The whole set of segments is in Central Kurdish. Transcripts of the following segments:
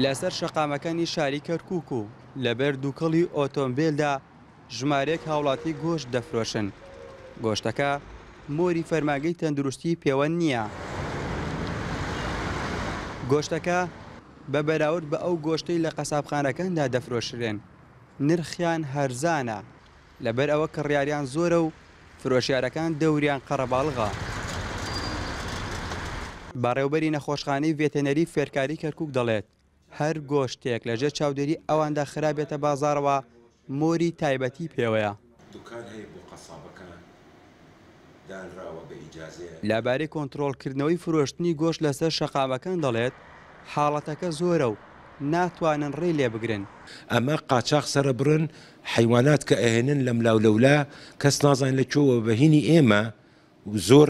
لەسەر شەقامەکانی شاری کەرکووک و لەبەر دووکەڵی ئۆتۆمبێلدا ژمارەیەک هاوڵاتی گۆشت دەفرۆشن. گۆشتەکە مۆری فەرمانگەی تەندروستی پێوەند نییە. گۆشتەکە بە بەراورد بە ئەو گۆشتەی لە قەسابخانەکاندا دەفرۆشرێن، نرخیان هەرزانە. لەبەر ئەوە کڕیاریان زۆرە و فرۆشیارەکان دەوریان قەرەباڵغە. بەڕێوبەری نەخۆشخانەی ڤێتێنەری فێرکاری کەرکوک دەڵێت، هەر گۆشتێک لە ژێر چاودێری ئەواندا خرابێتە بازاڕەوە مۆری تایبەتی پێوەیە. دانراوە بە ئیجازەیە. لەبارەی کۆنترۆڵکردنەوەی فرۆشتنی گۆشت لەسەر شەقامەکان دەڵێت، حاڵەتەکە زۆرە و ناتوانن ڕێی لێبگرن. ئەمە قاچاخ سەرەبڕن حەیوانات کە ئەهێنن لەملاولەولا کەس نازانێت لە کوێوە بە هینی ئێمە و زۆر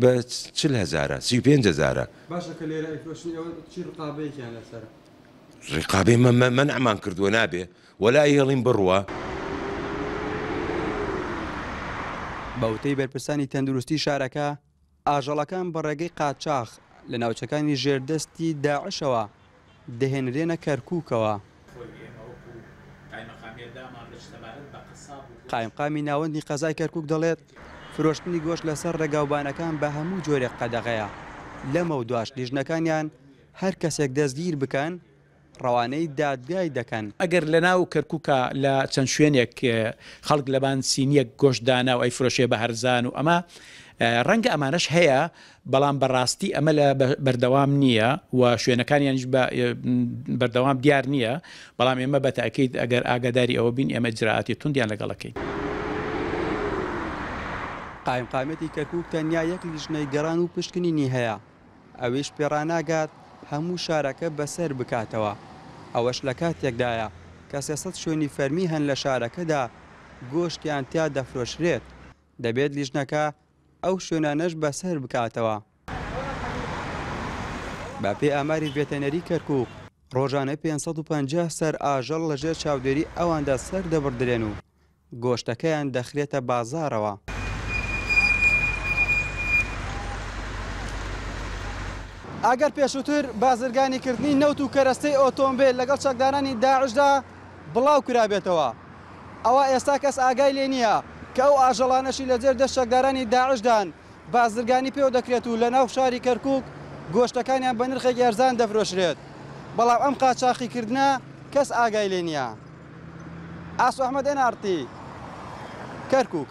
بە چل هەزارە سی و پێنج هەزارە. باشە کە لێرە ئەیفرۆشن ئێوە چی ڕقابەیەکیان لەسەرە. ڕقابەی مە مە مەنعمان کردووە نابێ وەلا ئێڵیم بڕوا. بەوتەی بەرپرسانی تەندروستی شارەکە، ئاژەڵەکان بە ڕێگەی قاچاخ لە ناوچەکانی ژێردەستی داعشەوە دەهێنرێنە کەرکووکەوە. قایمقامی ناوەندی قەزای کەرکووک دەڵێت، فرۆشتنی گۆشت لەسەر ڕێگاوبانەکان بە هەموو جۆرێک قەدەغەیە، لەمەودواش لیژنەکانیان هەر کەسێک دەستگیر بکەن، ڕەوانەی دادگای دەکەن. ئەگەر لەناو کەرکووکا لە چەند شوێنێک خەڵک لەبان سینییەک گۆشت دانا و ئەیفرۆشێ بە هەرزان و ئەمە، ڕەنگە ئەمانەش هەیە بەڵام بە ڕاستی ئەمە لە بەردەوام نییە و شوێنەکانیانیش بە بەردەوام دیار نییە، بەڵام ئێمە بە تەئکید ئەگەر ئاگاداری ئەوە بین ئێمە ئیجرائاتی توندیان لەگەڵ ئەکەین. قایمقامیەتی کەرکوک تەنیا یەک لیژنەی گەڕان و پشکنینی هەیە، ئەویش پێڕاناگات هەموو شارەکە بەسەر بکاتەوە، ئەوەش لە کاتێکدایە کە سێ سەد شوێنی فەرمی هەن لە شارەکەدا گۆشتیان تیا دەفرۆشرێت، دەبێت لیژنەکە ئەو شوێنانەش بەسەر بکاتەوە. بەپێی ئاماری ڤێتەنەری کەرکووک، ڕۆژانە پێنج سەد و پەنجا سەر ئاژەڵ لەژێر چاودێری ئەواندا سەردەبڕدرێن و گۆشتەکەیان دەخرێتە بازاڕەوە. ئەگەر پێشووتر بازرگانیکردنی نەوت و کەرەستەی ئۆتۆمبێل لەگەڵ چەکدارانی داعشدا بڵاوکرابێتەوە، ئەوا ئێستا کەس ئاگای لێ نییە کە ئەو ئاژەڵانەشی لە ژێر دەست چەکدارانی داعشدان، بازرگانی پێوە دەکرێت و لە ناو شاری کەرکووک گۆشتەکانیان بە نرخێکی هەرزان دەفرۆشرێت، بەڵام ئەم قاچاخیکردنە کەس ئاگای لێ نییە. ئاسۆ ئەحمەد، ئێن ئاڕ تی، کەرکووک.